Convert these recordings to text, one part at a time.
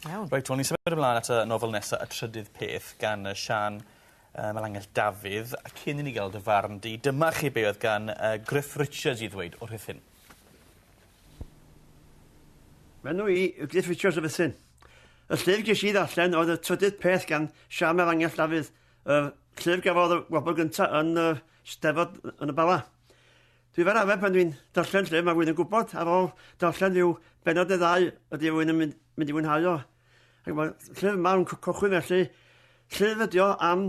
Iawn. Reit wel ni symud ymlan at y nofel nesa Y Trydydd Peth gan yy Siân yy Melangell Dafydd a cyn i ni ga'l dy farn di dyma chi be' oedd gan yy Griff Richards i ddweud wrth hyn. Fy enw i yw Griff Richards o Ruthun. Y llyfr ges i ddarllen oedd Y Trydydd Peth gan Siân Melangell Dafydd, yr llyfr gafodd y wobr gynta yn y Steddfod yn y Bala. Dwi fel arfer pan dwi'n darllen llyfr mae rhywun yn gwybod ar ôl darllen rhyw bennod neu ddau ydy rhywun yn mynd, mynd i fwynhau o. Ac mae llyfr yma yn cychwyn felly. Llyfr ydi o am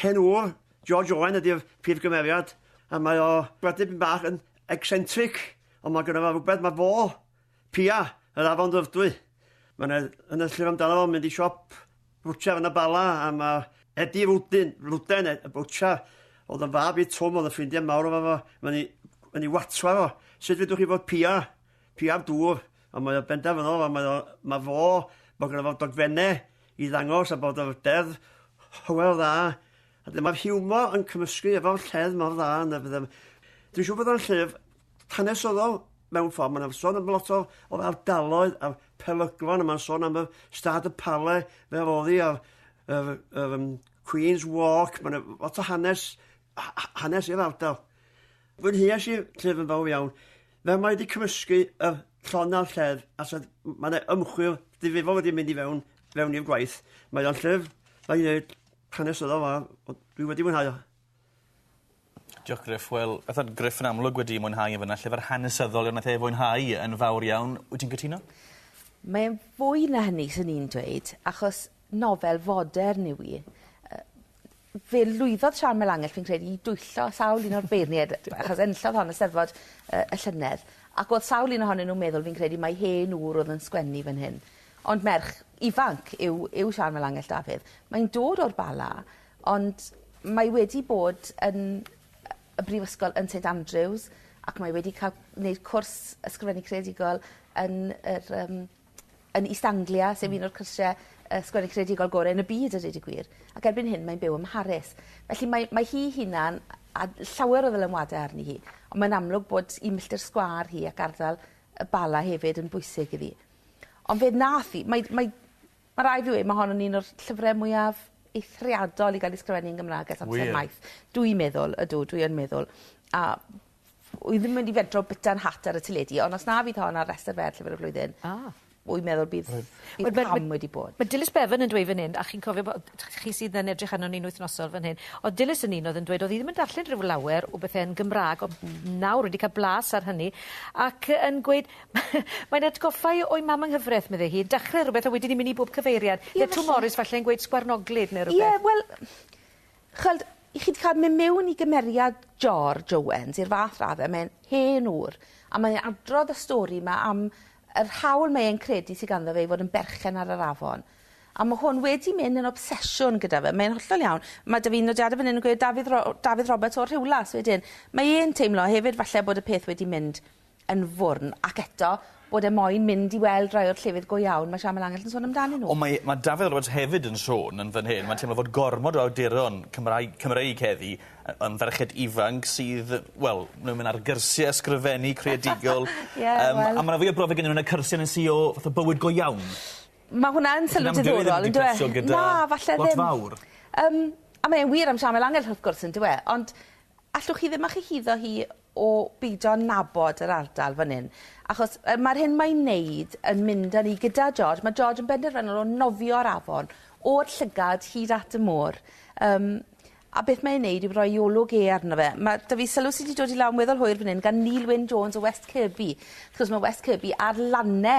hen ŵr, George Owen ydy'r prif gymeriad, a mae o wedi byn bach yn eccentric, ond mae gyda fe rhywbeth mae fo Pia, yr afon Ddyfrdwy. Mae 'na yn y llyfr amdano fo, mynd i siop bwtsiar yn y Bala, a mae Eddie Rwdyn, Rwden, y bwtsiar, oedd yn fab i Twm, oedd yn ffrindiau mawr efo fo, mae'n ei, yn ei watwar o. Sut fedrwch chi fod Pia? Pia'r dŵr. Ond mae o benderfynol, a mae, o, mae fo, bod gyda fo dogfennau i ddangos a bod o'r deddf hywel dda, a dyma'r hiwmor yn cymysgu efo'r lledd mor dda yn y bydde... Dwi'n siŵr bod o'n llyfr hanesyddol mewn ffordd. Mae'n yna sôn am lot o, o'r ardaloedd a'r peryglon, a mae'n sôn am y stad y pale fel oddi a'r yr, yr, um, Queen's Walk. Mae'n lot o hanes, hanes i'r ardal. Fwynheas i'r llyfr yn fawr iawn. Fel mae wedi cymysgu y llon a'r lled, a sed, mae yna ymchwil difrifol wedi mynd i fewn, fewn i'r gwaith. Mae o'n llyfr, mae'n ei wneud hanesyddol dda, ond dwi wedi mwynhau o. Diolch Gruff wel beth o'dd Gruff yn amlwg wedi mwynhau e fynna llyfr hanesyddol nath e fwynhau yn fawr iawn. Wyt ti'n cytuno? Mae e'n fwy na hynny swn i'n dweud achos nofel fodern yw 'i. Yy fe lwyddodd Siân Mael Angell fi'n credu i dwyllo sawl un o'r beirniaid achos enillodd hon y Steddfod yy y llynedd ac o'dd sawl un ohonyn nw'n meddwl fi'n credu mai hen ŵr o'dd yn sgwennu fan hyn. Ond merch ifanc yw yw Siân Mael Angell Dafydd. Mae'n dod o'r Bala Ond mae wedi bod yn y brifysgol yn Saint Andrews ac mae wedi ca'l neud cwrs ysgrifennu creadigol yn yr yym yn East Anglia sef un o'r cyrsie yy sgwennu creadigol gore yn y byd a deud y gwir ac erbyn hyn mae'n byw ym Mharis. Felly mae mae hi'i hunan a llawer o ddylanwade arni hi on' mae'n amlwg bod 'i milltir sgwâr hi ac ardal y Bala hefyd yn bwysig iddi. Ond fe nath 'i mae mae Ma' raid fi weud ma' hon yn un o'r llyfre mwyaf eithriadol i ga'l 'i sgrifennu yn Gymra'g ers amser... Wir? ...maith. Dwi meddwl. Ydw dwi yn meddwl. A wi ddim mynd i fentro bita 'n hat ar y teledu on' os na fydd hon ar restyr fer llyfyr y flwyddyn... A. ...wi meddwl bydd... Rwyf. ...bydd cam wedi bod. Ma' Dilys Bevan yn dweud fyn 'yn a chi'n cofio bo- yy t- chi sydd yn edrych arnon ni'n wythnosol fyn hyn o'dd Dilys yn un o'dd yn dweud o'dd 'i ddim yn darllen rhyw lawer o bethe yn Gymra'g on' nawr wedi ca'l blas ar hynny ac yy yn gweud Mae'n atgoffa i o'i mam yng nghyfraith, medde hi. Dachre rhywbeth a wedyn ni'n mynd i bob cyfeiriad. Ie, falle. Neu Twm Morys falle yn gweud sgwarnoglyd neu rhywbeth. Ie, wel, ch'weld, chi 'di ca'l myn' miwn i gymeriad George Owens i'r fath radde, mae'n hen ŵr, a mae e adrodd y stori 'ma am yr hawl mae e'n credu sy ganddo fe i fod yn berchen ar yr afon. A ma' hwn wedi myn' yn obsesiwn gyda fe. Mae'n hollol iawn. Ma' 'da fi'n nodiade fyn 'yn yn gweud Dafydd Ro- Dafydd Roberts o'r Rhiwlas wedyn. Mae e'n teimlo hefyd falle bod y peth wedi mynd yn fwrn, ac eto, bod e moyn mynd i weld rai o'r llefydd go iawn mae Siamel Angell yn sôn amdanyn nhw. Ond mae mae Dafydd Roberts hefyd yn sôn yn fan hyn, mae'n teimlo fod gormod o awduron Cymraeg Cymreig heddi yy yn ferched ifanc sydd, wel, nhw'n mynd ar gyrsie ysgrifennu creadigol. Ie, wel. Yym a ma' 'na fwy o brofiad gennyn nw yn y cyrsie yn y sy o fath o bywyd go iawn. Ma' hwnna yn sylw diddorol on'd yw e? Sy'n amgueddfawr yn cydlyso gyda... Na, falle ddim. ...lot fawr. Yym a mae e'n wir am Siamel Angell wrth gwrs on'd yw e? Ond allwch chi ddim â chyhuddo hi o beidio nabod yr ardal fan hyn achos yy ma'r hyn mae'n neud yn mynd â ni gyda George ma' George yn benderfynol o nofio'r afon o'r llygad hyd at y môr yym a beth mae e'n neud yw roi 'i olwg e arno fe ma' 'dy fi sylw sy 'di dod i lawr yn weddol hwyr fan 'yn gan Neil Wyn Jones o West Kirby 'chos ma' West Kirby ar lane